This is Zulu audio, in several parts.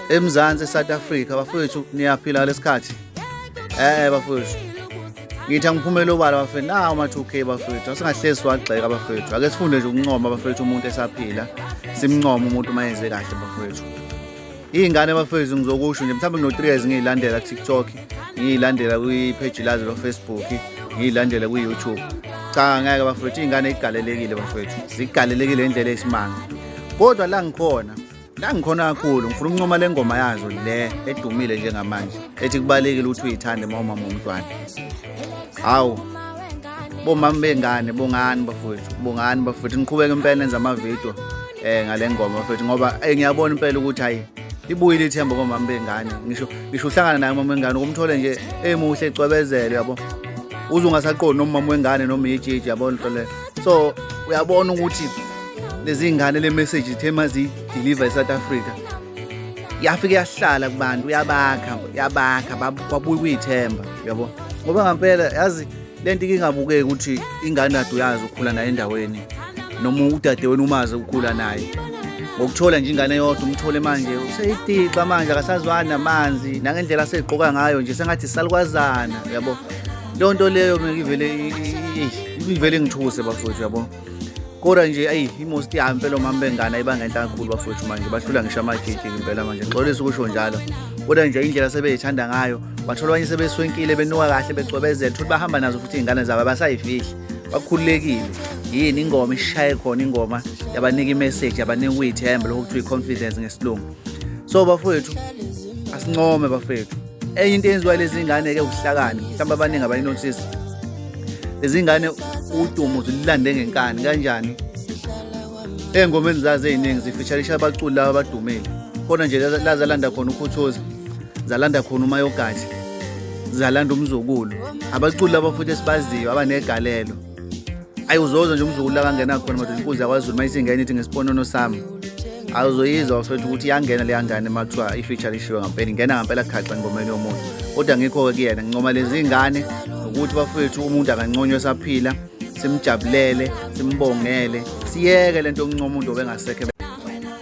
eMzansi eSouth Africa bafowethu niyaphila lesikhathi eh bafowethu ngithi angiphumela obala bafethu nawo ma 2k bafethu asingahlezi wagxeka bafethu ake sifunde nje ukuncoma bafethu umuntu esaphila simncoma umuntu uma yenze kahle bafethu iy'ngane bafethu ngizokusho nje mhlawumbe ngino-three years ngiyilandela kutiktok ngiyilandela kwipheji lazo lofacebook ngiyilandela kwi-youtube cha ngeke bafethu iy'ngane igalelekile bafethu zigalelekile indlela esimanga kodwa la ngikhona la ngikhona kakhulu ngifuna ukuncoma le ngoma yazo le edumile njengamanje ethi kubalekile ukuthi uyithande uma umama womntwana hawu bomama bengane bongani bafowethu bongani bafowethu niqhubeke impela nenza amavidiyo eh ngale ngoma bafowethu ngoba eh, ngiyabona impela ukuthi hayi libuyile ithemba komama bengane ngisho ngisho uhlangana naye umama wengane ukumthole nje emuhle ecwebezele yabo uze ungasaqondi nomama wengane noma yijiji yabona into le so uyabona ukuthi lezi ngane le message ithe mazi deliver eSouth Africa yafike yahlala kubantu yabakha yabakha babuya kuyithemba yabo ngoba ngampela yazi lento ingabukeki ukuthi ingane kade uyazi ukhula naye endaweni noma udade wenu umazi ukhula naye ngokuthola nje ingane yodwa umthole manje useyitixa manje akasazwani namanzi nangendlela asegqoka ngayo nje sengathi salukwazana yabo leyo nto leyo ngivele ivele ngithuse bafowethu yabo kodwa nje ayi imosti yami impela omama bengane ayibanga into kakhulu bafowethu manje bahlula ngisho amagigi impela manje ngixolisa ukusho njalo kodwa nje indlela sebeyithanda ngayo bathola abanye sebeswenkile benuka kahle becwebezela futhi bahamba nazo futhi iy'ngane zabo abasayifihli bakhululekile yini ingoma ishaye khona ingoma yabanika imeseji yabanika ukuyithemba lokho kuthiwa i-confidence ngesilungu so bafowethu asincome bafowethu enye into eyenziwa lezi ngane ke ubuhlakani mhlawumbe abaningi abayinothisi lezi ngane udumo zililande ngenkani kanjani engomeni zazo eziningi zifeaturisha abaculi laba abadumile khona nje lazalanda khona ukhuthozi zalanda khona umayogathi zalanda umzukulu abaculi laba futhi esibaziyo abanegalelo ayi uzoza nje umzukulu akangena khona madoda inkunzi yakwazulu uma isingena ithi ngesiponono sami awuzoyizwa mfethu ukuthi iyangena leya ngane uma kuthiwa i-feature ishiwe ngampela ingena ngampela khaxa engomeni yomuntu kodwa ngikho-ke kuyena ngincoma lezi ngane ukuthi bafethu umuntu anganconywa esaphila simjabulele simbongele siyeke le nto yokuncoma umuntu obengasekho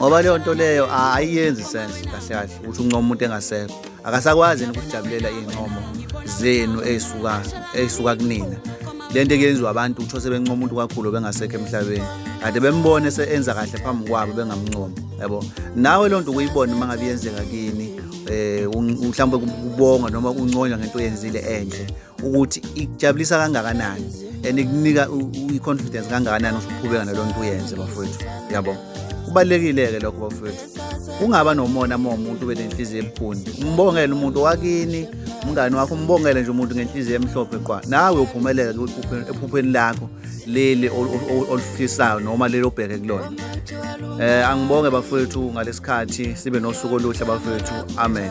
ngoba leyo nto leyo ayiyenzi sense kahle kahle ukuthi uncoma umuntu engasekho akasakwazi yini ukujabulela iy'ncomo zenu ey'suka ey'suka kunina le nto eyenziwa abantu utho sebencoma umuntu kakhulu bengasekho emhlabeni kade bembone se-enza kahle phambi kwabo bengamncoma yabo nawe loo nto ukuyibona uma ngabe yenzeka kini um mhlawumbe kubonga noma unconywa ngento oyenzile enhle ukuthi ikujabulisa kangakanani and ikunika i-confidence kangakanani ukuthi uqhubeka nalo nto uyenze bafowethu yabo kubalulekile-ke lokho bafowethu ungaba nomona uma umuntu ube nenhliziyo ebukhuni umbongele umuntu wakini umngane wakho umbongele nje umuntu ngenhliziyo emhlophe qwa nawe uphumelele ephupheni lakho leli olufisayo noma leli obheke kulona um angibonge bafowethu ngalesikhathi sibe nosuku oluhle bafowethu amen